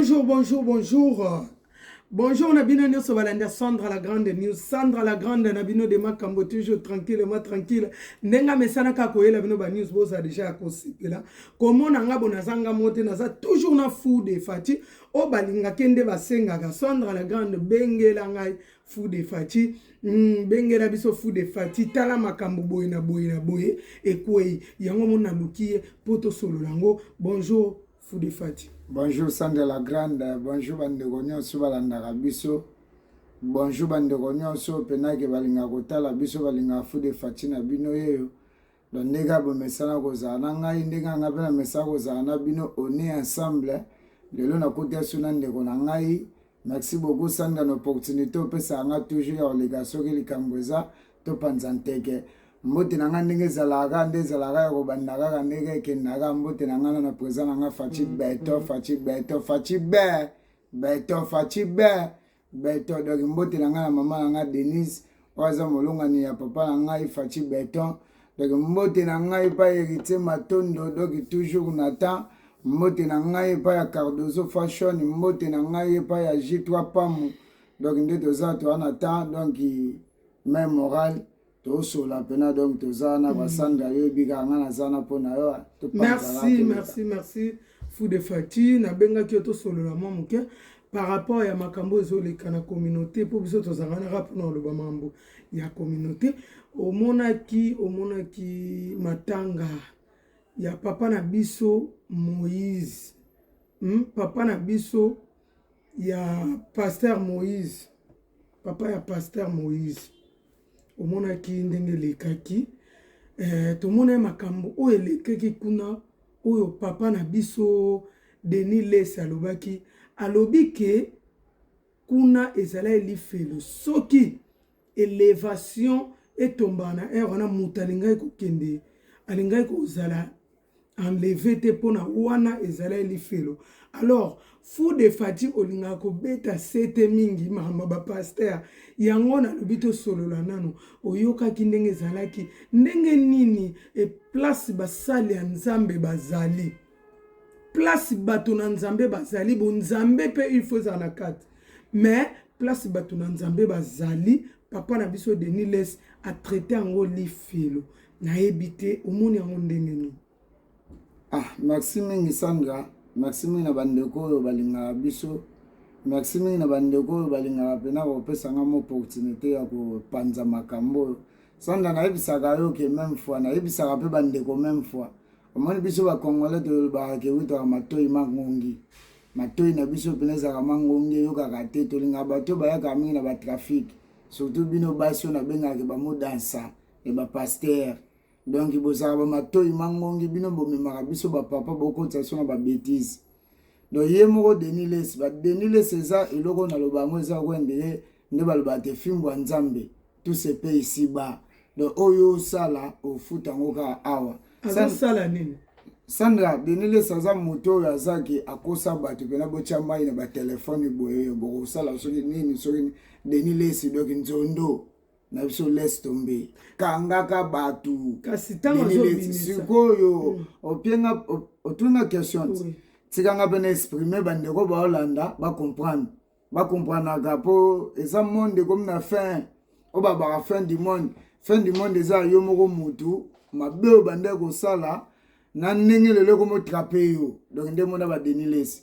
Bonjour, bonjour, bonjour. Bonjour na bino nyoso balanda Sandra la grande news. Sandra la grande na bino de makambo toujours tranquille ma tranquille. Ndenga mesana ka koyela bino ba news boza déjà ya kosepela. Komona nga bona zanga mote naza toujours na fou de Fati. O balinga kende basengaka Sandra la grande bengela ngai fou de Fati. Mm, bengela biso fou de Fati tala makambo boye na boye na boye ekwei yango mona lukiye poto solo lango. Bonjour Fude Fati. Bonjour Sandra la Grande, bonjour bandeko nyonso balandaka biso. Bonjour bandeko nyonso penake balinga kotala biso balinga Fude Fati na bino yeyo. Donc ndenge abomesana kozala na ngai ndenge anga mpe namesana kozala na bino one ensemble lelo nakuti aso na ndeko na ngai Merci beaucoup Sandra na opportunité opesaka nga toujours ya koleka soki likambo eza topanza nteke mbote na nga ndenge ezalaka nde ezalaka ya kobanda kaka ndenge ekendaka mbote na nga na na présent na nga faci mm, beto mm. faci beto faci be beto faci be beto donc mbote na nga na mama na nga denise oyo aza molongani ya papa na ngai faci beton donc mbote na ngai epai heritier matondo donc toujours na temps mbote na ngai epai ya cardozo fashion mbote na ngai epai ya g3 pamu donc nde toza toa na temps donc mai moral tosola mpena donc toza na mm. basandra yo yebi kaka ngai naza na mpo na yo merci merci merci fou de fati nabengaki yo tosolola mwa moke par rapport ya makambo ezoleka na communauté mpo biso tozanganaka mpona koloba mambo ya communauté omonaki omonaki matanga ya papa na biso moïse hmm? papa na biso ya pasteur moïse papa ya pasteur moïse omonaki ndenge elekaki eh, tomonaki makambo oyo elekaki kuna oyo papa na biso denis les alobaki alobi ke kuna ezalaki lifelo soki elevation etombaka na heure wana moto alingaki kokende alingaki kozala enleve te mpo na wana ezala elifelo alors fou de fati olingaka kobeta sete mingi makambo ba paster yango nalobi tosolola nano oyokaki ndenge ezalaki ndenge nini eplace basali ya nzambe bazali place bato na nzambe bazali bonzambe mpe il faut ezala na kati mais place bato na nzambe bazali papa na biso denis les atraite yango lifelo nayebi te omoni yango ndenge nini ah merci mingi sandra merci mingi na bandeko oyo balingaka biso merci mingi na bandeko oyo balingaka mpena kopesa ngai moopportunité ya kopanza makambo oyo sanda nayebisaka yo ke meme fois nayebisaka mpe bandeko meme fois omoni biso bacongolais tolobaka ke witaka matoi mangongi matoi na biso mpena ezalaka mangongi eyokaka te tolingaka bato oyo bayaka mingi na batrafike surtout bino basi oyo nabengaka ke bamodansa ya bapastere donc bozala bamatoi mangongi bino bomemaka biso bapapa bokotisa biso na babetise donc ye moko denis les badenis les eza eloko naloba yango eza wendele nde balobaka te fimbo ya nzambe tout se paye ici bas donc oyo osala ofuta yango kaka awa azosala nini sandra denis les aza moto oyo azaki akosa bato mpena botya mai na batelefone boye oyo bokosala soki nini soki denis les doki nzondo na biso laisse tombe kangaka bato kasi ntango sikoyo hmm. opienga otunga question ti tika nga mpe na exprime bandeko baolanda bacomprendre bacomprenaka mpo eza monde ekomi na fin oyo babaka fin du monde fin du monde eza yo moko motu mabe oyo bandai kosala na ndenge lelo ekomi otrape yo donk nde mona badenilesi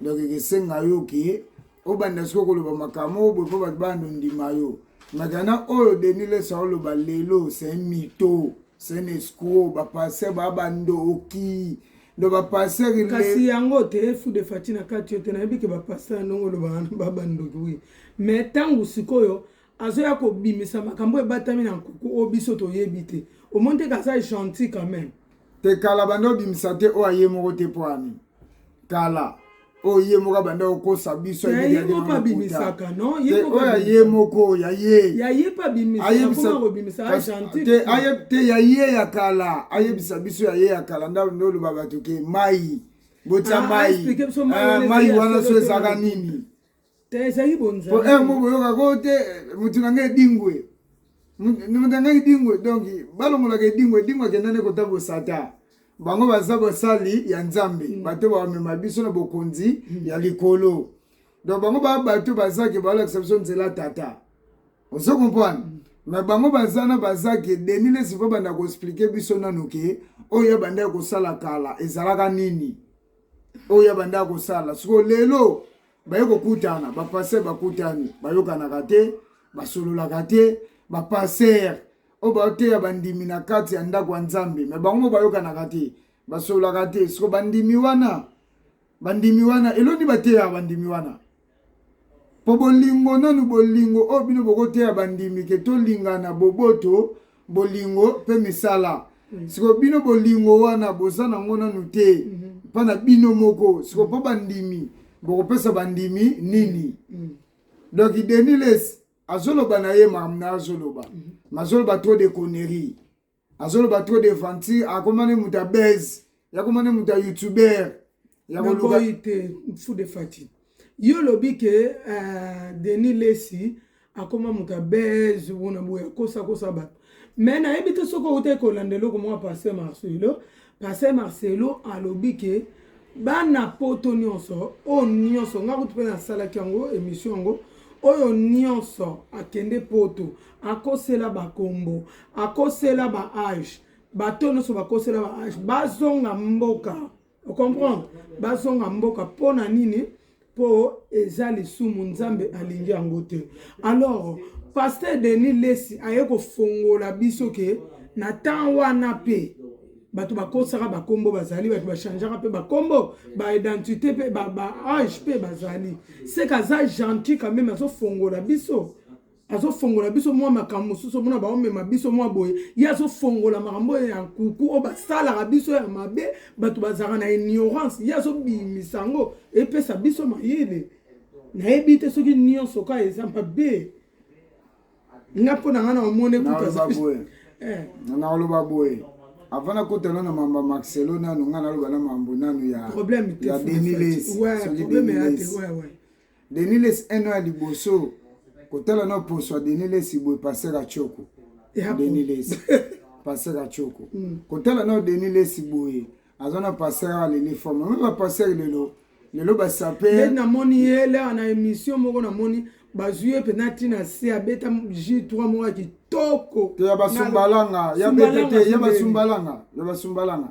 donc ekesenga yo ke obanda soki okoloba makambo oyo boye mpo bato bana ondima yo matana oyo deni lesa oloba lelo se mito se na escro bapaster baa bando okii ndo bapaster kasi yango te fu de fati na kati yo te nayebi ke bapaster ya ndongo oloba wana babandoki wi mais ntango sikoyo azoya kobimisa makambo oyo ebatami na nkuku oyo biso toyebi te omoni te kaza gentil quand même te kala banda obimisa te oyo aye moko te mpo ani kala oyo ye moko abanda kokosa biso oyo aye moko ya ye te ya ye ya kala ayebisa biso ya ye ya kala nda oloba bato ke mai botya ah, mai ah, mai wana so ezalaka nini te ezali bonzambe po heure moko boyoka ko te mutu na ngai edingwe mutu na ngai edingwe donc balongolaka edingwe edingwe akenda nde kota bosata bango baza basali ya nzambe mm. bato bamema biso na bokonzi mm. ya likolo donc bango ba bato bazaki balakisa biso nzela tata ozo comprendre mm. me bango baza na bazaki deni lesi mpo banda koexplike biso nanu ke oyo abanda ya kosala kala ezalaka nini oyo abanda ya kosala siko lelo baye kokutana bapaster bakutani bayokanaka te basololaka te bapaster oyo baoteya bandimi na kati ya ndako ya nzambe me bango mo bayokanaka te basololaka te siko bandimi wana bandimi wana eloni bateyaka bandimi wana mpo bolingo nanu bolingo oyo bino bokoteya bandimi ke tolingana boboto bolingo mpe misala mm. sikoyo bino bolingo wana boza nango nanu te mm -hmm. mpa na bino moko sikoyo mpo bandimi bokopesa bandimi nini mm. mm. donc deniles azoloba na ye makambo na azoloba mm -hmm. mazoloba trop de connerie azoloba trop de venture akomani moto ya base yakomani moto ya youtuber ya koluka te fou de fati yo lobi ke uh, Denis Lesi akoma moto ya base bona boye akosa kosa bato me nayebi te soki outa ekolanda eloko mwa pasteur marcelo pasteur marcelo alobi ke bana poto nyonso oyo nyonso ngai kutu mpe nasalaki yango emission yango oyo nyonso akende poto akosela bakombo akosela ba age bato nyonso bakosela ba age bazonga mboka o comprendre bazonga mboka mpo na nini mpo eza lisumu nzambe alingi yango te alors paster denis lesi aye kofongola biso ke na temps wana mpe bato bakosaka bakombo bazali bato bachangeaka mpe bakombo baidentité mpe baage mpe bazali seka aza gentil quand meme azofongola biso azofongola biso mwa makambo mosusu omona baomema biso mwa boye ye azofongola makambo oyo ya nkuku oyo basalaka biso ya mabe bato bazalaka na ignorance ye azobimisa yango epesa biso mayele nayebi te soki nyonso ka eza mabe nga mpo na nga na omoni ekutanaoloba eh. boye avant nakotana na mambo ya marcelo nanu nga naloba na mambo nanu ya denis les soki denis les Denis Lessi un an ya liboso kotala na poso ya Denis Lessi boye passer à Choco. Denis Lessi passer à Choco. Mm. Kotala na Denis Lessi boye aza na passer à Lele Forme. Même ba passer lelo lelo ba saper. Nde namoni ye leo na émission moko namoni bazwi ye mpenza ntina se abeta ji 3 moko ya kitoko to ya basumbalanga ya beta te ya basumbalanga ya basumbalanga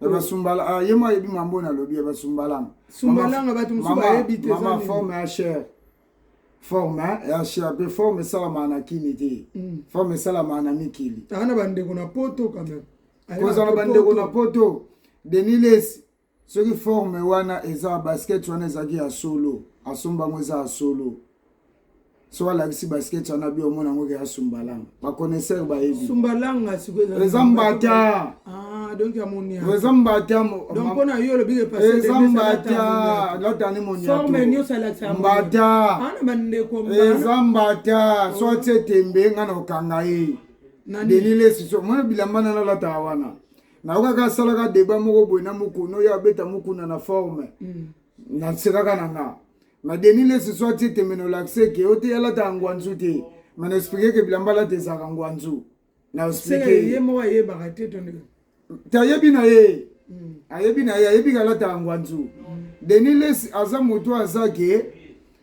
basumbala ye mwa ayebi mambo oyo nalobi ya basumbalanga sumbalanga bato mosusu bayebi te mama forme ya chere forme ya chere mpe forme esalamaka na kini te mm. forme esalamaka na mikili aa na bandeko na poto quand même kozala bandeko na poto denis lesi soki forme wana eza basket wana ezalaki ya solo asomba yango eza ya solo soki alakisi basketi wana bi omona yango ekeya sumbalanga baconnaisseur bayebi sumbalanga sikoyo eza mbata ah, donc ya moniato eza mbata donc pona yo olobi ke parce eza mbata latani moniato forme nyonso alakisa mbata ana ah, bandeko eza mbata so atie tembe nga na okanga ye delile siso mwana bilamba na nalataka wana nayokaka asalaka deba moko boye na mokuna oyo abeta mokuna na forme mm. nasekaka na nga ma deni lesi so atie tembe na olakise ke ote alata ya ngwanzu te ma na explike ke bilamba alata ezalaka ngwanzu na explike ye moko ayebaka te to ndenge te ayebi na ye hmm. ayebi na ye ayebi ke alata ya ngwanzu hmm. deni lesi aza moto aza ke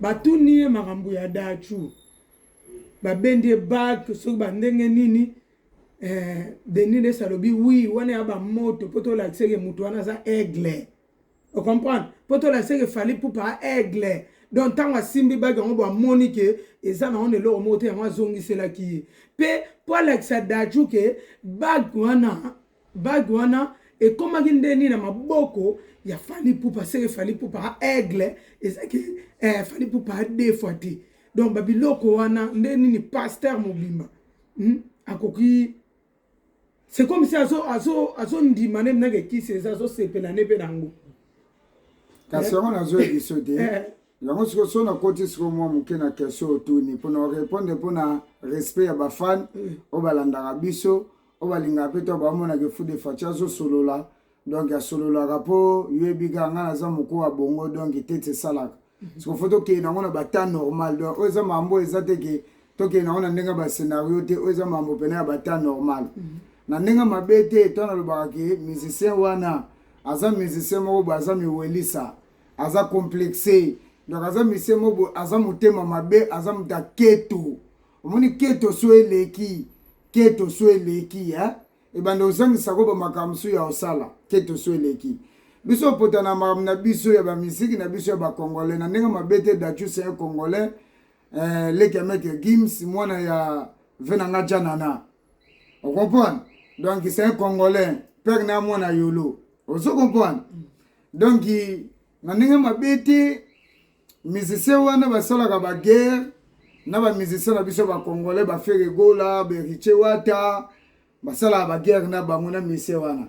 Batuni ye makambo ya Daco, babendi ye bac soki ba ndenge nini eh, Denis Lessi alobi oui, wana ya ba moto mpo tolakisa ke moto wana aza aigle, o comprendre, mpo tolakisa ke Fally Ipupa aigle donc ntango asimbi baki yango bamoni ke eza na wana eloko moko te yango azongiselaki ye mpe mpo alakisa Daco ke baki wana Bague wana ekomaki nde nini na maboko ya Fally Ipupa seke Fally Ipupa a aigle ezalaki eh, Fally Ipupa a deux fois te donc babiloko wana nde nini pasteur mobimba hmm? akoki c'est comme si azo azo azo ndima ne mnake kisi eza azo sepela ne pe nango kasi yango nazo ebiso te eh. yango siko so nakoti siko mwa moke na question otuni mpona orepondre mpona respect ya bafane eh. oyo balandaka biso oyo balingaka mpe to bamonaka efu de faci azosolola donk asololaka mpo yoyebi kaka ngai naza moko ya bongo donk tete esalaka mhm. siko fo tokende nango na batemp normal donk oyo eza mambo eza te ke tokende nango na ndenge ya bascenario te oyo eza mambo mpena ya batemp normal mhm. na ndenge mabe te to nalobaka ke musicien wana aza musicien moko boye aza miwelisa aza complexe donc aza musicien moko boye aza motema mabe aza moto aketu omoni keto so eleki keto so eleki eh? ebanda ozangisa ko bamakambo mosusu ya osala keto so eleki biso opotana makambo na biso ya bamiziki na biso ya bacongolais na ndenge mabe te dachus ya congolais eh, leki ya maitre gims mwana ya venanga janana ocomprendre donc c'est un congolais pere na mwana yolo ozo comprendre donc na ndenge mabe te musicien wana basalaka baguerre na bamusicien na biso bacongolais bafere gola beritie wata basalaka baguerre na bango na musicien wana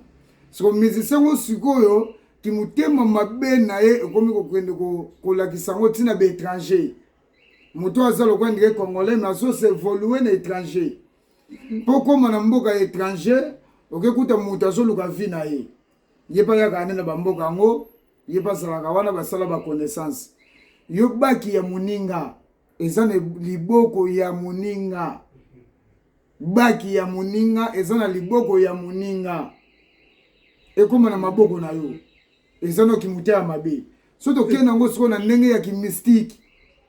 soko musicien ngo sikoyo kimotema mabe na ye ekomi kokende kolakisa yango ntina baétranger moto aza lokola ndike congolais me azose evolue na étranger mpo okóma na mboka ya étranger okekuta moto azoluka vi na ye ye mpe ayaka ane na bamboka yango ye bazalaka wana basala ba connaissance yo baki ya moninga eza na liboko ya moninga baki ya moninga eza na liboko ya moninga ekoma na maboko na yo eza na kimuta ya mabe so tokende yango sikoyo na ndenge ya kimystike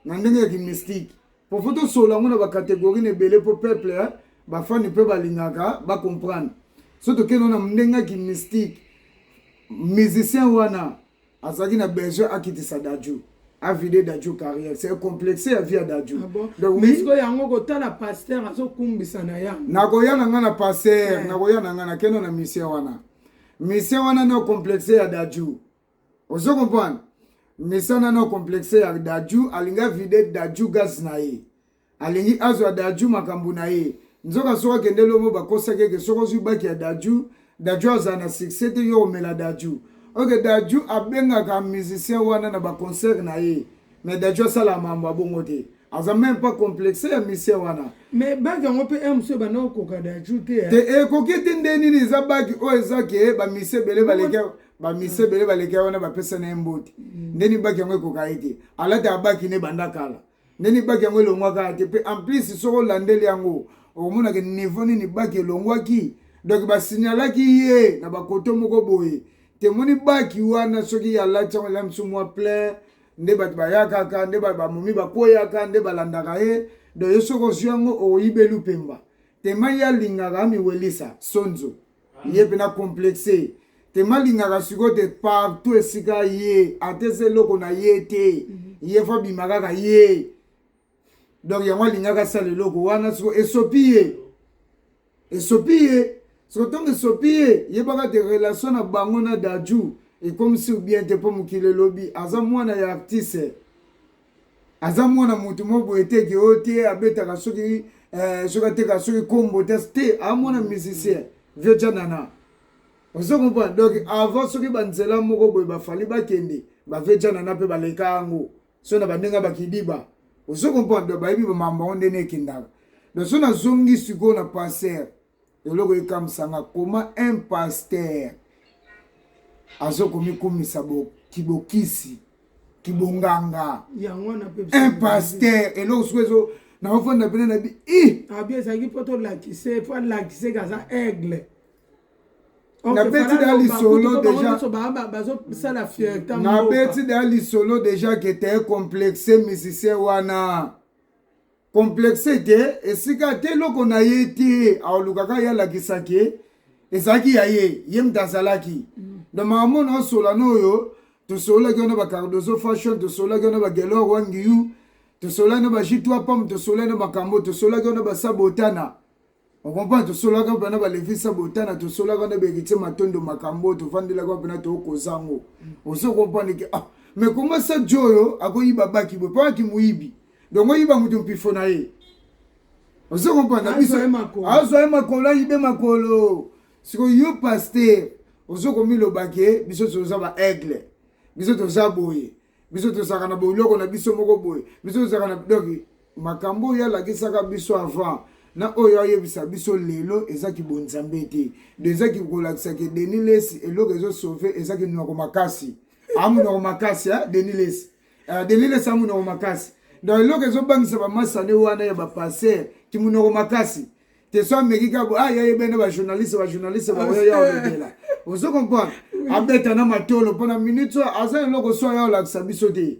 na ndenge ya kimystike Pour faut tosolola yango na ba categorie na ebele mpo peuple eh, bafani mpe balingaka bacomprendre so tokende na ndenge aki mystique musicien wana azalaki na besoin akitisa dajou avide dajou carrière c'est complexe ya vie ya dajou ah yango kotala paster azokumbisa na ya nakoya na ngai na paster eh. nakoya na ngai nakende na misien wana misien wana nde complexe ya dajou ozo comprendre mesana na complexe ya daju alinga vide daju gaz na ye alingi azwa daju makambo na ye nzoka soki akende lomo bakosaki eke soki ozwi baki ya daju daju azala na succès te yo omela daju oke daju abengaka musicien wana na baconcert na ye mais daju asala mambo abongo te aza meme pas complexe ya musicien wana mais baki yango mpe heure mosusu ebanda kokoka daju te te ekoki te nde nini eza baki oyo eza ke bamisie ebele baleki bamisi ebele baleki ya wana bapesa na ye mbote mm. ndeni baki yango ekoka ye te alata abaki ne banda kala ndeni baki yango elongwaka ya te mpe en plus soki olandeli yango okomonaka niveau nini baki elongwaki donc basignalaki ye na bakoto moko boye temoni baki wana soki alati yango ela misu mwa plein nde bato bayakaka nde bamomi bakweyaka nde balandaka ye donc yo soki ozwi yango oyibeli mpemba tema ye alingaka amiwelisa sonzo ye mpe na complexe te malingaka sikoyo te partout esika ye atesa eloko na ye te mhm. ye fo abima kaka ye donc yango alingaka asala eloko wana siko esopi ye esopi ye siko ntongo esopi ye yebaka te relation na bango na daju ekomisi bien te mpo mokili elobi aza mwana ya artiste aza mwana moto moko boye te ke oyo te abetaka soki eh, soki ateka soki kombo te te amwana musicien vieux janana ozo comprendre donc avant soki banzela moko boye bafali bakende bavie janana mpe baleka yango so na bandenge bakidiba ozo comprendre donc bayebi bamambo yango ndene ekendaka donc so nazongi sikoyo na passer eloko ekamwisa nga koma un pasteur azokomikumisa kibokisi kibonganga un pasteur eloko soki ezo naofanda pene na bi i abi ezalaki mpo tolakise mpo alakise ke aza aigle nabeti da lisolo dejabazosala fierta nabeti da lisolo deja ke te complexe musicien wana complexe te esika te eloko na ye te aolukaka ye alakisa ke ezalaki ya ye ye moto azalaki mm. donc makambo na osola na oyo tosololaki wana bacardozo fashion tosololaki wana bagelor wangiyu tosololaki na bajitwa pam tosololaki na makambo tosololaki wana basabotana okompa tosolaka mpena balevisa botana tosolaka na berite matondo makambo oyo tovandelaka mpena tookoza yango mm. ozo komprendre ke ah me koma sa jo oyo akoyiba baki boye mpona kimoyibi donk oyiba moto mpifo na ye ozo komprendre na biso azwa ye makolo ayibe makolo sikoyo yo paster ozo komiloba ke biso toza ba aigle biso toza boye biso tozalaka na boloko na biso moko boye biso tozalaka na donc makambo oyo alakisaka biso avant na oyo ayebisa biso lelo eza kibonzambe te de eza kikolakisa ke denis lesi eloko ezosauve eza kinoko makasi amonoko makasi eh, denis lesi uh, eh, denis lesi amonoko makasi donc eloko ezobangisa bamasane wana ya bapaster kimonoko makasi te so ameki kaka bo aya ah, ye bene bajournaliste bajournaliste ah, baoyo ya olobela ozo comprendre abeta na matolo mpo na minute oyo aza na eloko so aya olakisa biso te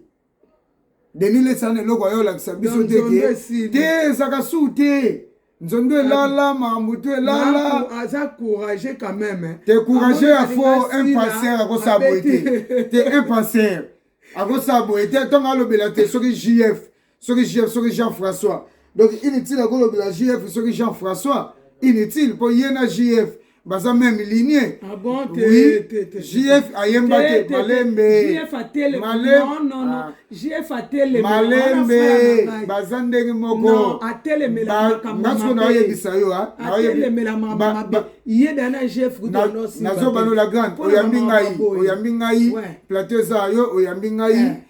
denis lesana eloko aya olakisa biso te ke te ezaka su te nzondo elala makambo to elala aza courage quand même te courage ya faux un passer akosala boye te te un passer akosala boye te ntongo alobela te soki jf soki jf soki jean françois donc inutile akolobela jf soki jean françois inutile mpo ye na jf baza meme linie ah bon, te, oui. te, te, jf ayemba te malembe malembe baza ndenge moko nasuko naoyebisa yo nazobanola grande oyambi ngai oyambi ngai plateau eza yo oyambi ngai eh.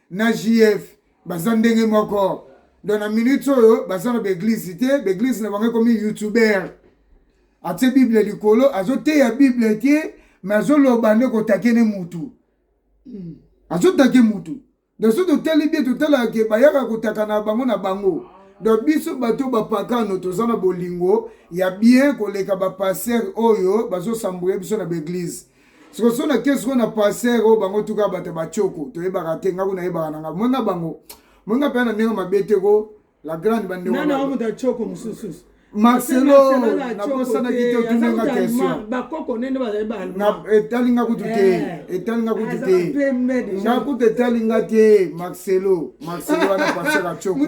na JF baza ndenge moko donc na minute oyo baza na baeglise te baeglise na bango ekomi youtuber atie bible likolo azoteya bible te me azoloba nde kotake ne mutu hmm. azotake mutu donc so totali bie totalaka ke bayaka kotaka na bango na bango donc biso bato bapakano toza na bolingo ya bien koleka bapaster oyo bazosambwele biso na baeglise siko so na kesi na passer oyo bango tuka bato bachoko toyebaka te ngaku nayebaka na nga mwenga bango mwenga mpe na ndenge mabe te ko la grande bandeko mosusu marcelo nakosanaki te otuni nga questionetali nga kutu te etali nga kutu te nga kutu etali nga te marcelo marcelo wana pasaka coko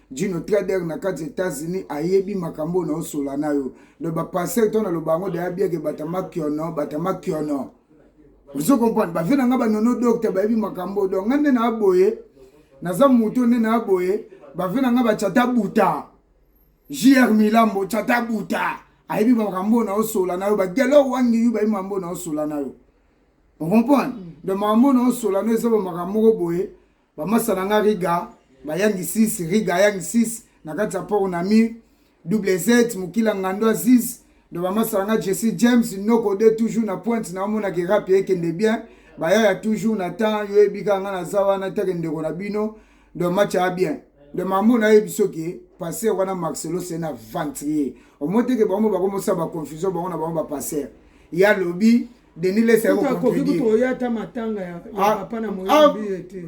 Gino Trader na kati États-Unis ayebi makambo oyo naosola na yo donc bapasteur to naloba yango daya bieke batama kiono batama kiono ozo comprendre bavie na ngai banono docteur bayebi makambo donc ngai nde naa boye naza moto nde naa boye bavie na ngai bachata buta jr milambo chata buta ayebi makambo oyo naosola na yo bagelo wangi yo bayebi makambo oyo naosola na yo ocomprendre mm. donc makambo oyo naosola na yo eza bamakambo moko boye Bamasa na nga Riga bayangi 6 Riga ayangi 6 na kati ya port na mi WZ mokila ngando aziz ndo bamasa na nga Jesse James noko de toujours na pointe na omona ke rap ekende bien baya ya toujours na temps yo ebika nga naza wana take ndeko na bino ndo match a bien de mamu nayebi soki passer wana marcelo se na ventrier omoteke bango bakomosala baconfusion bango na bango bapasser ya lobi Denis Lessi akoki akoki kutoya ata matanga ya ah, papa na moyo ah, biye te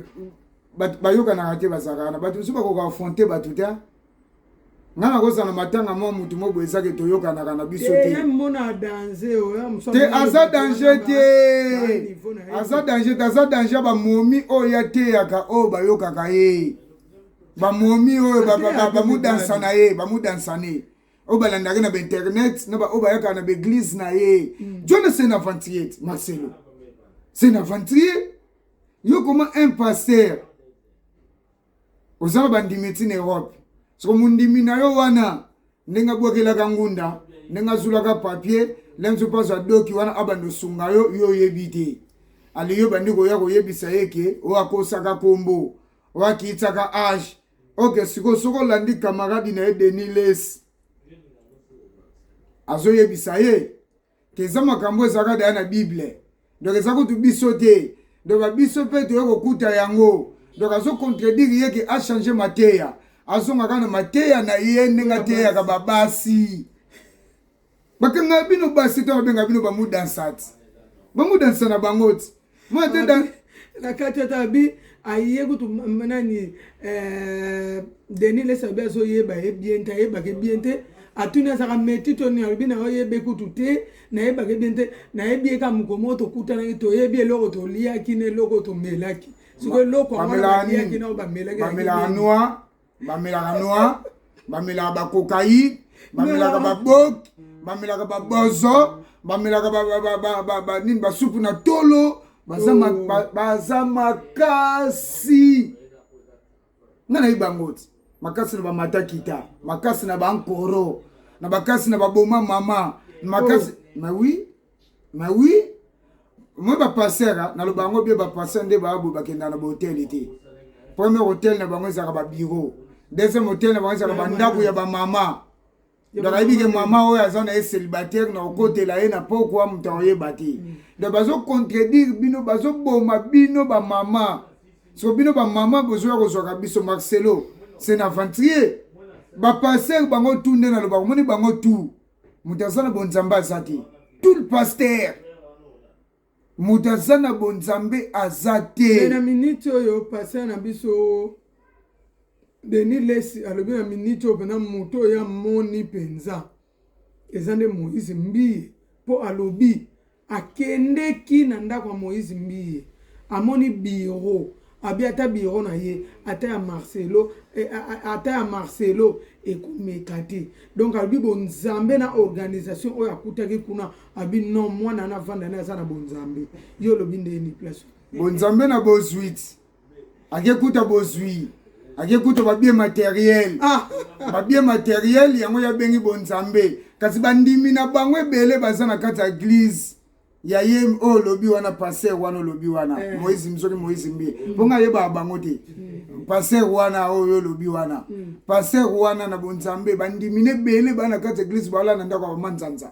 bayokanaka te bazalaka na bato mosusu bakoka afronte bato te ngai nakozala matanga mwa motu mo boye ezaki toyokanaka na biso te aza danger te aza danger te aza danger ya bamomi oyo yateyaka oyo bayokaka ye bamomi oyo bamudansa na ye bamudansa ne oyo balandaka na bainternet na baoyo bayaka na baeglise na ye mm. jona se na aventurier te marcelo se na aventurier yo koma un pasteur oza na bandimi ti na europe soko mondimi na yo wana ndenge abwakelaka ngunda ndenge azulaka papier ndenge soki azwa doki wana abanda osunga yo yo oyebi te aliyo bandi koya koyebisa ye ke oyo akosaka nkombo oyo akiyisaka age ok sikoyo soki olandi kamaradi na ye denis les azoyebisa ye ke eza makambo ezalaka daya na bible donc eza kutu biso te donc babiso mpe toye kokuta yango donc azocontredire ye ke achange mateya azongaka na mateya na ye ndenge ateyaka babasi bakanga bino basi to babenga bino bamudansati bamudansa na bango ti mwa te dan na kati ata abi aye kutu nani eh, denis lesabi azoyeba ye bien te ayebaka ye bien te atuni azaka meti to nini alobi na yo oyebe kutu te nayebaka ye bien te nayebi ye ka moko moko tokutanaki toyebi eloko toliaki na eloko tomelaki siko eloko yango baliaki na oyo bamelaki bamelaka noir bamelaka noir bamelaka bakokaine bamelaka baboki bamelaka babozo bamelaka nini basupu na tolo baza oh. makasi nga nayebi bango ti makasi na bamata kita makasi na bankoro na bakasi na baboma mama makasi oh. ma oui Mais oui, moi ba passer hein, na loba ngo bien ba passer nde ba bo bakenda na hotel été. Premier hôtel na bango ezaka ba bureau. Deuxième hôtel na bango ezaka ba ndaku ya ba mama. Donc ayebi ke mama oyo aza na ye célibataire na okotela ye na pokwa moto akoyeba te. Mm. Donc bazo contredire bino, bazo boma bino ba mama. So bino ba mama bozoya kozwaka biso Marcelo, c'est un aventurier. Ba passer bango tout nde na loba, omoni bango tout. moto aza na bonzambe aza te tout le pasteur moto aza na bonzambe aza te na miniti oyo pasteur na biso denis lesi alobi na miniti oyo mpena moto oyo amoni mpenza eza nde moïse mbiye mpo alobi Akendeki na ndako ya Moïse Mbiye, amoni bureau, abi ata bureau na ye ata ya Marcelo, eh, ata ya Marcelo ekomeka te. Donc alobi bonzambe na organisation oyo akutaki kuna, abi non, mwana na vanda na aza na bonzambe. Yo olobi ndeni place. Bonzambe na bozuiti. akekuta bozwi akekuta babie materiel ah. babie materiel yango yabengi bonzambe kasi bandimi na bango ebele baza na kati ya eglize ya ye oyo oh, olobi wana paster wana olobi wana eh. moise soki moise mbi mm. mpo ngai ayebaka bango te mm. paster wana oyo oh, olobi wana mm. paster wana na bonzambe bandimi na ebele bana kati ya eglise baolanda ndako ya bamanzanza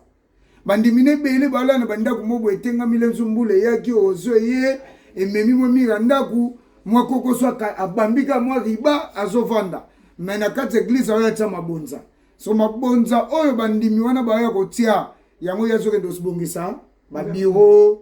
bandimi na ebele balala na bandako mwa boye etengami lenzu mbula eyaki ozo eye ememi mwa mire ya ndako mwa kokoso abambi kaka mwa riba azovanda me na kati ya eglize aoya tya mabonza so mabonza oyo bandimi wana baoya kotya yango ye azokende osibongisa babiro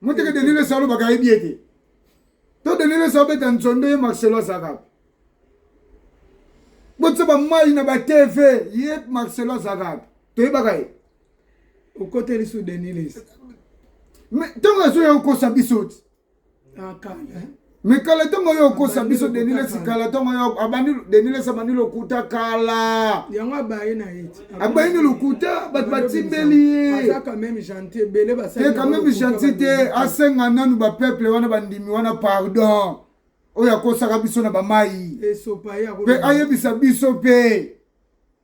moteke denele salo bakayebi ye te to denele salo beta nzondo ye marcelo azalaka botisa bamai na batv ye marcelo azalaka toyebaka ye okoteli su denilis ntango azoya kokosa biso ti mais kala ntango yo okosa biso denilesi kala ntango yo abandi denilesi abandi lokuta kala yango abaye na ye abayi na lokuta bato batimbeli ye te quand même gentil te asenga nanu bapeuple wana bandimi wana pardon oyo akosaka biso na bamai mpe ayebisa biso mpe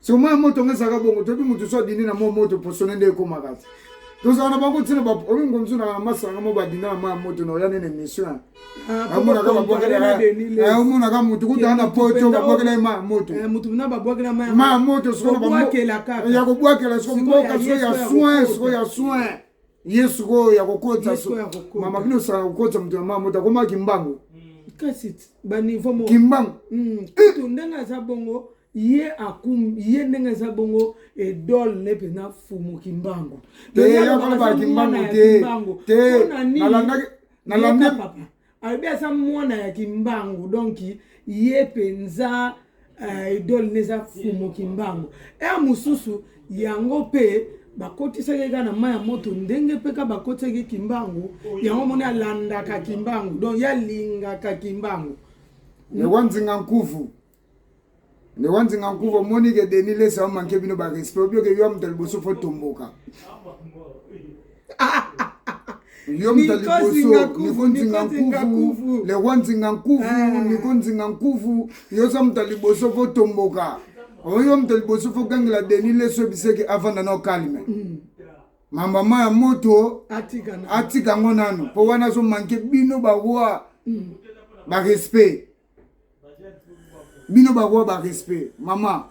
somo ya moto nga ezalaka bongo toyebi moto so adindi na mwa moto posone nde ekomaka te tozala na bango ntina oyo ngo mosusu na masanga mo badinda na mwa moto na oya nene émission amonaka babwakelaomonaka moto kutana na poto babwakela ye ma moto ma moto ya kobwakela soko mboka soko ya soin soko ya soin ye sikoyo ya kokotisa mama bino osala kokotisa moto ya mama moto akoma kimbangu mm. kasi baniveau moko kimbangu mm. kutu ndenge aza bongo ye akum ye ndenge aza bongo edole ne mpena fumu kimbangu kimbangu te nalandaki alobi aza mwana ya kimbangu donc ye mpenza uh, idole ne eza fumo kimbangu ere mosusu yango mpe bakotisaki kaka na mai ya moto ndenge mpe kaka bakotisaki kimbangu yango moni alandaka kimbangu donc ye alingaka kimbangu lewa nzinga nkuvu nde wanzinga nkuva omoni ke denis lesa omanke bino barespect obi oke yo moto ya liboso fo tomboka yo moto ya liboso niko nzinga nkuvu le roi nzinga nkuvu ah. niko nzinga nkuvu yo oza moto ya liboso fo tomboka oyo moto ya liboso fo gangela denis lesa obiseke avanda na okalme mm. mama ma ya moto atika yango nano mpo wana azomanke bino baroi mm. barespect bino bakoa ba respect mama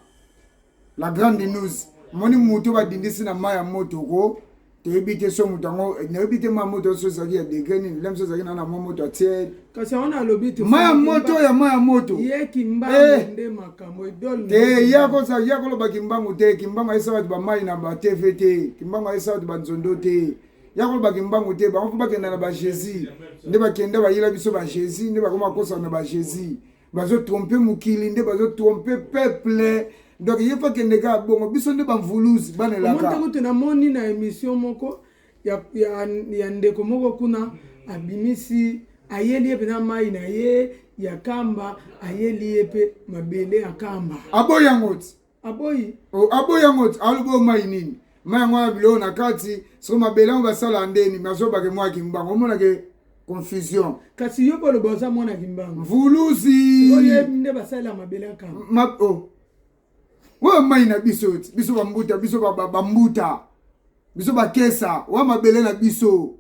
la grande news moni moto badindisi na mai ya moto ko toyebi te so moto yango nayebi te mwa moto so ezalaki ya degre nini lem so ezalaki na na mwa moto ya tiele kasi yango nalobi te mwa ya moto ya mwa ya moto ye kimbangu eh. nde makambo idole te ya kosa ya koloba kimbangu te kimbangu ayesa bato bamai na ba tv te kimbangu ayesa bato banzondo te ya koloba kimbangu te bango mpe bakenda na bajésus nde bakenda bayela biso bajésus nde bakoma kosana na bajésus bazotrompe mokili nde bazotrompe peuple donc ye mpe akende kaka bongo biso nde bamvuluzi bana elaka kutu namoni na émission moko ya, ya, ya ndeko moko kuna abimisi ayeli ye mpenza mai na ye ya kamba ayeli ye mpe mabele ya kamba aboyi yango ti aboyi oh, aboyi yango alobi oyo mai nini mai yango wana biloko na kati soko mabele yango basala ndeni mazobake mwa kimbango omonake confusion kasi yo boloba oza mwana kimbango mvuluzi oyebi nde basalela mabele ya kama ma, oh. oyo mai na biso ti biso bambuta biso bambuta ba, ba biso bakesa oya mabele na biso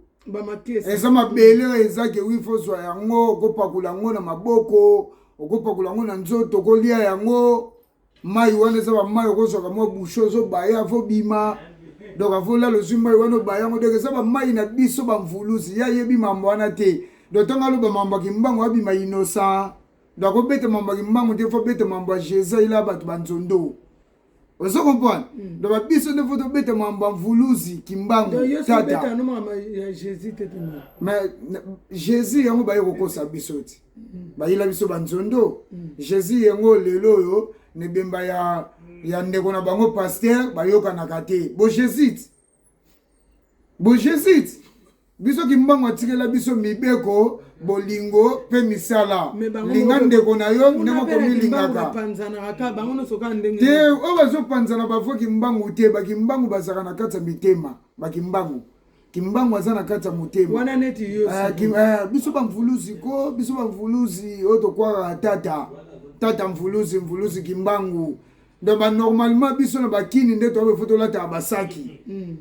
eza mabele oyo ezaki wi fozwa yango okopakola yango na maboko okopakola yango na nzoto okolia yango mai wana eza bamai okozwaka mwa bushe ozobaya avobima donc avolala ozwi mai wana obaya yango donc eza bamai na biso bamvuluzi ye ayebi mambo wana te donc ntango aloba mambo ya kimbangu abima innocent donc akobeta mambo ya kimbangu te fo beta mambo ya jesus ila bato banzondo ozo comprendre hmm. donc babiso nde fo tobeta mambo ya mvuluzi kimbangu tata mais jesus yango baye kokosa biso ti bayela biso banzondo mm. jésus yango lelo oyo na ebemba ya, ya ndeko na bango paster bayokanaka te bojezite bojezite biso kimbangu atikela biso mibeko bolingo mpe misala linga ndeko na yo ndenge okomilingaka te oyo bazopanzana bavue kimbangu te bakimbangu bazalaka na kati ya mitema bakimbangu kimbangu aza na kati ya motema wana neti yo uh, kim, uh, biso bamvuluzi ko biso bamvuluzi oyo tokwaka tata tata mvuluzi mvuluzi kimbangu donc banormalement biso na bakini nde toyaba efo tolataka basaki mm.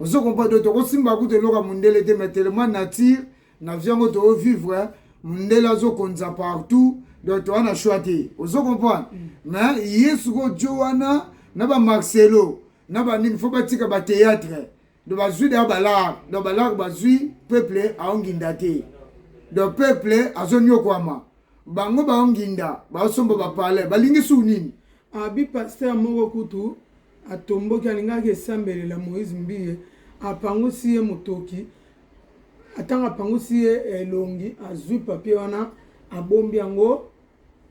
ozo kompa do tokosimba kutu eloko ya mondele te mais tellement nature na vie yango toovivre mondele azokonza partout donc toa na choix te ozo comprendre mm. mais ye sikoyo jo wana na bamarcelo na banini fo batika bateatre Donc bazui d'ailleurs balar, donc balar bazui peuple aonginda te. Donc peuple azonyokwama. Bango baonginda, basomba ba palais, balingi su nini? Abi pasteur moko kutu atomboki alingaki esambelela Moïse Mbiye apangusi ye motoki atanga apangusi ye elongi azui papier wana abombi yango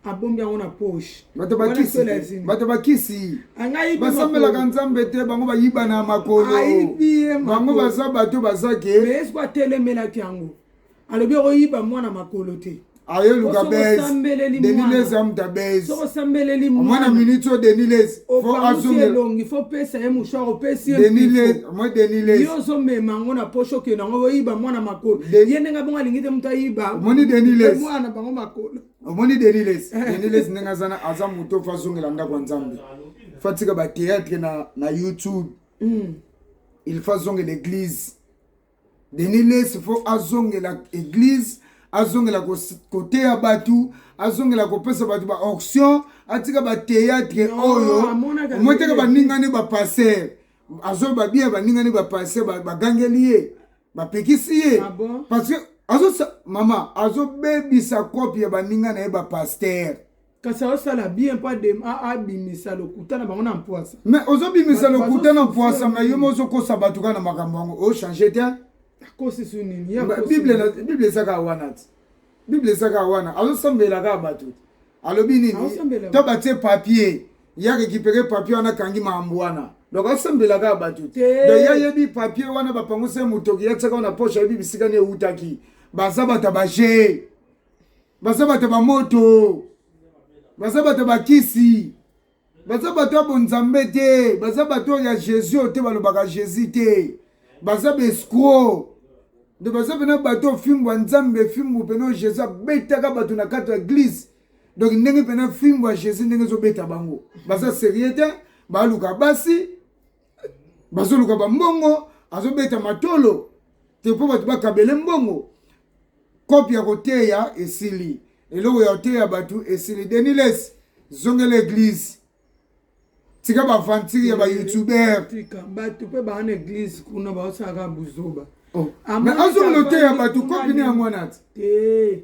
abombi yango na poche bato bakisi bato bakisi basambelaka nzambe te bango bayiba na makolo bango baza bato baza ke yesu atelemelaki yango alobi okoyiba mwana makolo te ayeluka bes deniles amta bes omwana minute oyo deniles okangusi elongi fo pesa ye mouchoir opesi ye yo ozomema yango na posho okende yango oyiba mwana makolo ye ndenge abongo alingi te moto ayiba mwana na bango makolo omoni deniles eh. deniles ndenge azana aza moto ofa azongela ndako ya nzambe fatika bateatre na, na youtube mm. il faut azongela eglise Denis Lessi fo azongela eglise azongela koteya bato azongela kopesa bato ba auction atika bateatre oyo omotaka baningani bapaster azoloba bien baningani bapaster bagangeli ye bapekisi ye ah parce que azo mama azobebisa kope ya baninga na ye bapaster kasi azosala bien mpo abimisa lokuta na bango na mpwasa me ozobimisa lokuta na mpwasa me yo mozokosa bato kaka na makambo yango ochange te akosi su nini bible ezaka wana ti bible ezaka wana azosambela kaka bato alobi nini to batie papier yake kipeke papier wana akangi makambo wana donc asambela kaka bato te ye ayebi papier wana bapangusa ye motoki yatiaka wana poshe ayebi bisika ni ewutaki baza bato ya bajee baza bato ba moto baza bato ba kisi baza bato ya bonzambe te baza bato ya jesus oyo te balobaka jesus te baza baescro nde baza mpena bato ofimbo ya nzambe fimbo mpena oyo jesus abetaka bato na kati ya eglise donc ndenge mpena fimbo ya jesus ndenge ezobeta bango baza serie te baluka basi bazoluka bambongo azobeta matolo te mpo bato bakabele mbongo kopi ya koteya esili eloko ya koteya bato esili deniles zongela eglise tika baaventire ya bayoutubeur bato mpe baa na eglise kuna baosalaka buzoba oh. azongela oteya bato kopi ne yango wana te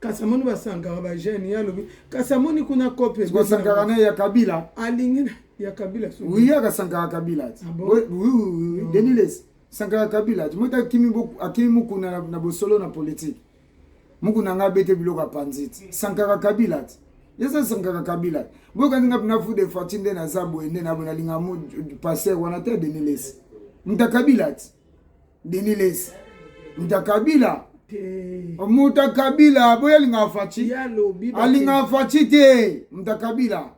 kasi amoni basankara bajeune ye alobi kasi amoni kuna cope basankara na ya kabila alingi ya kabila oui aka sankara kabila ti ah oui oui oui oh. deniles sankara kabila ti mota akimi akimi mukuna na bosolo na politique mukuna nga abete biloko apanzi ti sankara kabila ti eza sankara kabila boyokani nga pina fude fati nde naza boye nde nabonalinga mu passer wana te deniles muta kabila ti Denis Les muta Kabila muta Kabila boya linga Fatshi alinga Fatshi te muta Kabila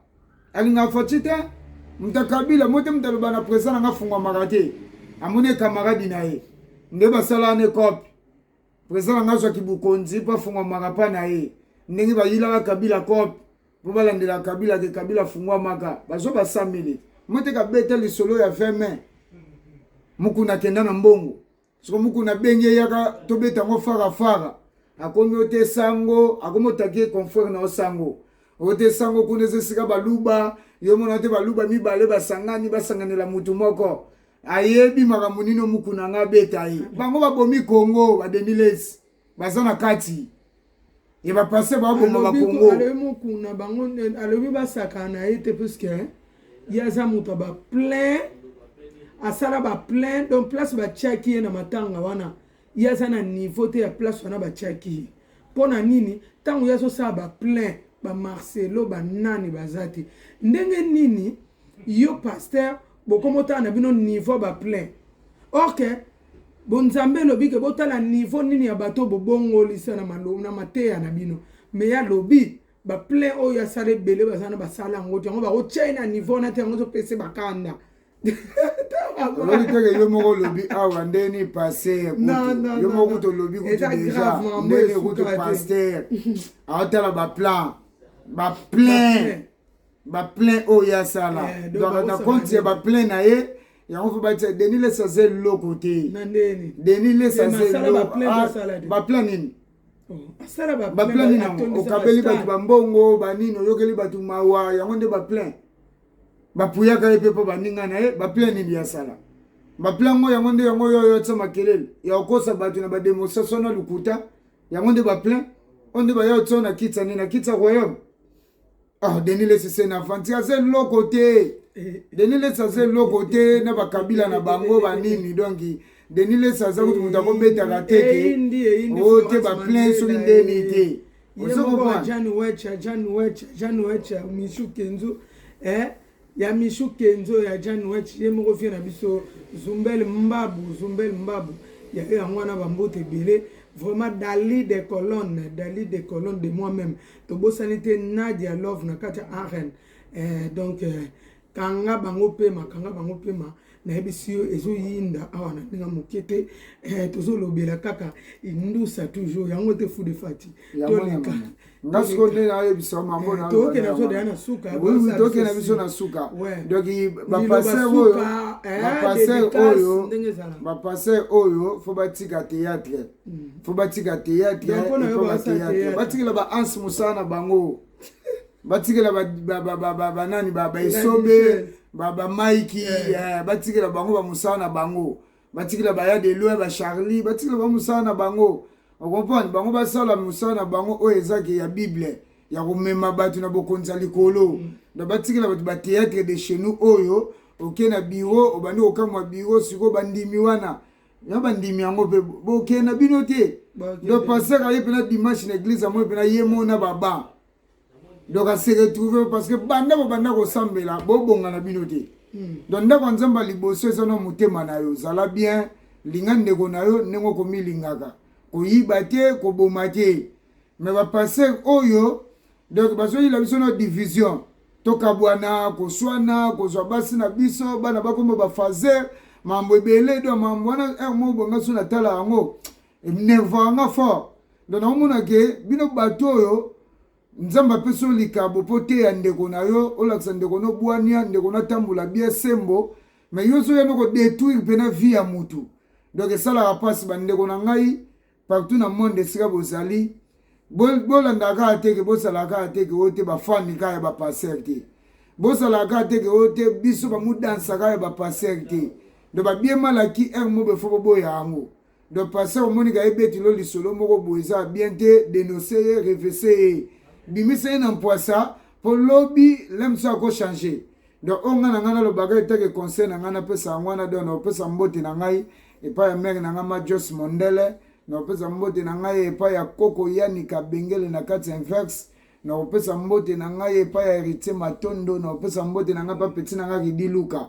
alinga Fatshi te muta Kabila mote mutaloba na president nanga fungwamaka te amoni camarade na ye nde basala ne cope president nanga azwaki bokonzi mpo afungwamaka mpa na ye ndenge bayilaka Kabila cope po balandela kabila ke kabila fungwa maka bazoba 100 minutes moteka beta lisolo ya 20 mai mukuna akenda na mbongo soko mukuna abengi eyaka tobeta yango farafara akomi ote sango akomi otaki confrere na osango ote sango kuna eza esika baluba yo mona te baluba mibale basangani basanganela mutu moko ayebi makambo nini omukuna nga abeta ye bango babomi kongo badenilesi baza na kati ya bapase baboma bakongo alobi mokuna bango alobi basakana na ye te puiske ye aza moto ya baplein asala baplein donc place batiaki ye na matanga wana ye aza na niveau te ya place wana batiaki ye mpo na nini ntango ye azosala baplein bamarcelo banani baza te ndenge nini yo paster bokomotala na bino niveau baplein orke Bonzambe elobi ke botala niveau nini ya bato oyo bobongoli se na maloba na mateya na bino. Mais ye alobi ba plein oyo asala ebele baza na basala yango te yango bakotya ye na niveau wana te yango ezopesa ye bakanda. olobi teke yo moko olobi awa nde ni paster yo moko kutu olobi kutu deja nde ni kutu paster aotala baplan baplein ba plein oyo ye asala Eh, donc donc na baosala compte ya nini? ba plein na ye yango mpe batia denis lesa aza eloko te na ndeni denis lesa Te aza masala ba plein eloko basala te. baplan nini Oh, asala ba baplan plein, nini yango atondisa ba okabeli stade. bato bambongo banini oyokeli bato mawa yango nde baplan bapuyaka ye mpe mpo baninga na ye baplan nini ye asala baplan yango yango nde yango oyo oyo atia makelele ya kokosa bato na bademonstration na lokuta yango nde baplan oyo nde baya otia na kiti ya nini na kiti ya royaume ah denis lesi se na fanti aza eloko te eh. denis lesi aza eloko te na bakabila na bango banini donc denis lesi aza kutu moto akobetaka te te o te baplein soki ndeni te ozokopa Ya Michou Kenzo ya Jan Wetch ye moko vieux na biso Zumbel Mbabu Zumbel Mbabu ya yo yango wana ba mbote ebele vraiment Dali de colonne Dali de colonne de moi même tobosani te Nadia Love na kati ya arène eh, donc eh, kanga bango pema kanga bango pema nayebisi yo ezoyinda awa na ndenge moke te eh, tozolobela kaka indusa toujours yango te fu de fati toleka nga sikoyo nde nayebisa mambo eh, tokenda biso deya na suka tokenda biso na suka donc bapaster oyo eh, bapaster oyo bapaster oyo fo batika théâtre hmm. fo batika théâtre batikela baanse mosala na bango batikela banani baesobe bamaiki eh. eh, batikela bango bamosala na bango batikela baya de loin bacharlie batikela bango mosala na bango okomprendre bango basala mosala na bango oyo ezaki ya bible ya komema bato na bokonzi ya likolo mm. na batikela bato batheatre de chez nous oyo oke na biro obandi kokamwa biro sikoyo bandimi wana na bandimi yango mpe bokenda bino te do pasaka ye mpena dimanche na eglize yango mpena ye mona baba donc ase retrouve parce que banda bobanda kosambela bobonga na bino te hmm. donc ndako ya nzambe ya liboso eza na motema na yo zala bien linga ndeko na yo ndenge okomilingaka koyiba te koboma te me bapaster oyo donc bazoyila biso na division tokabwana koswana kozwa basi na biso bana bakoma bafaser mambo ebele do mambo wana heure moko bongaso natala yango enervaka nga fort donc naomona ke bino bato oyo nzambe apesi yo likabo mpo oteya ndeko na yo olakisa ndeko na obwania ndeko na atambola bia sembo me yo soki yanoko detruire mpena vie ya motu donc esalaka mpasi bandeko na ngai partout na monde esika bozali bolandaka kaka teke bosalaka kaka teke oyo te bafani kaka ya bapaster te bosalaka kaka teke oyo te biso bamudansaka ya bapaster te donc babiemalaki heure mobefo boboya yango donc pasteur omoni ka ebeti lo lisolo moko boye eza bien te denonce ye revese ye bimisa ye na mpwasa mpo lobi lemso akochange donc oyo ngai na ngai nalobaka etake conseil na ngai napesa yango wana donc naopesa mbote na ngai epai ya mere na ngai ma jos mondele nakopesa mbote na ngai epai ya koko yanika bengele na kati ya inverse nakopesa mbote na ngai epai ya heritier matondo nakopesa mbote na ngai epai peti na ngai ridi luka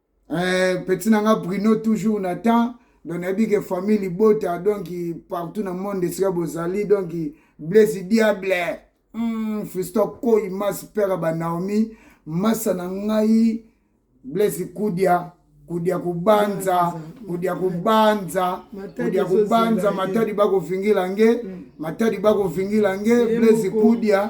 Eh, petit na nga Bruno toujours na temps donc nayebi ke famille libota donc partout na monde esika bozali donc blaise diable mm, fisto koi masi pere ba naomi masa na ngai blaise kudia kudia kubanza kudia kubanza kudia kubanza matadi bakofingila nge mm. matadi bakofingila nge blaise kudia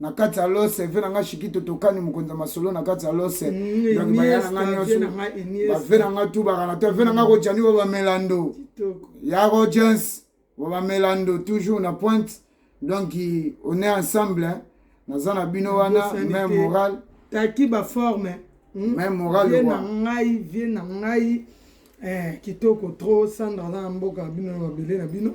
na kati ya lose ve na nga shikito tokani mokonzi ya masolo na kati ya lose mm, donc baya na nga nyonso bave na nga tubaka na to ve na nga kojani bo bamelando ya rogens bo bamelando toujours na pointe donc on est ensemble hein. naza na bino wana même moral taki baforme hmm? même moral vie na ngai vie na ngai eh, kitoko trop sandra aza na mboka bino na mabele na bino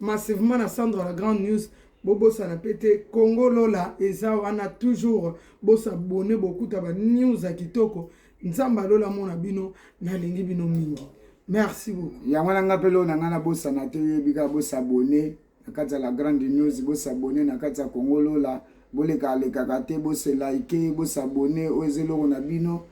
massivement na Sandra la grande news bobosana mpe te congo lola eza wana toujours bosabone bokuta ba news ya kitoko nzambe alola amona bino nalingi bino mingi merci beaucoup yango wana nga mpe loo na ngai nabosana te oyebi kaka bosabone na kati ya la grande news bosabone na kati ya congo lola bolekalekaka te boselaike bosabone oyo eza eloko na bino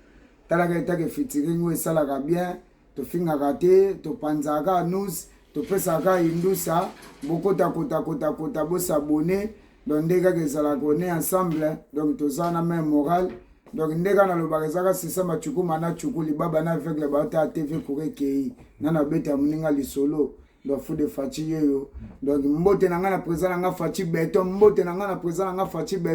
talaka etake fitiringo esalaka bien tofingaka te topanzaka kaka nus topesaka kaka indusa bokota kota kota kota bosabone donc nde kaka ezalaka one ensemble donc toza na meme morale donc nde kaka nalobaka ezaka sisa macukuma na cuku libaba na aveugle baotala tv kura ekei na nabeta moninga lisolo donc fou de faci yeyo donc mbote na ngai na président na ngai faci beton mbote na ngai na président na ngai faci beton